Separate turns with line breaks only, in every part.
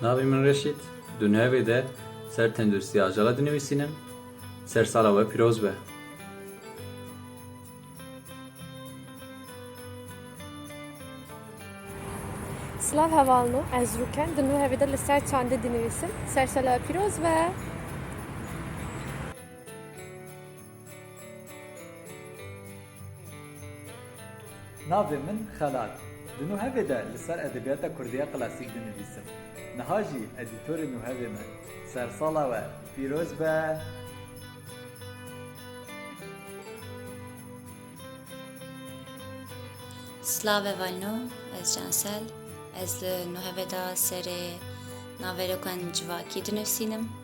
Navê min Reşît, di navê de ser tenduristiya ajala dinivîsînim, ser sala we pîroz be. Silav heval min ez Rûken di nûhevê de li ser çandê dinivîsim Sersala pîroz be. Navê min Xelat. Di Nuhevê de li ser edebiyata Kurdî ya klasîk dinivîsim. Niha jî edîtorê Nuhevê me. Sersala we pîroz be! Slave Valno, ez Cansel. Ez li Nuhevê de serê navê rokan civakî dinivîsînim.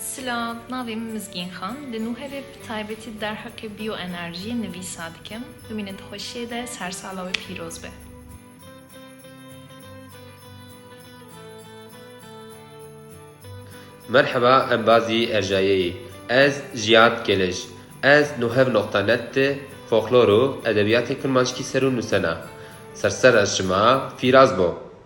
Silav, navê min Mizgîn Xan, li Nûhevê bi taybetî derheqê bîyoenerjiyê nivîsa dikim. Bimînin di xweşiyê de, ser sala we pîroz be. Merheba em bazî erjayeyî ez Jiyad Kêlej ez Nuhev Noqta Net de Foklor û Edebiyatê Kurmanckî ser û nusena. Ser sera şima fîraz bo.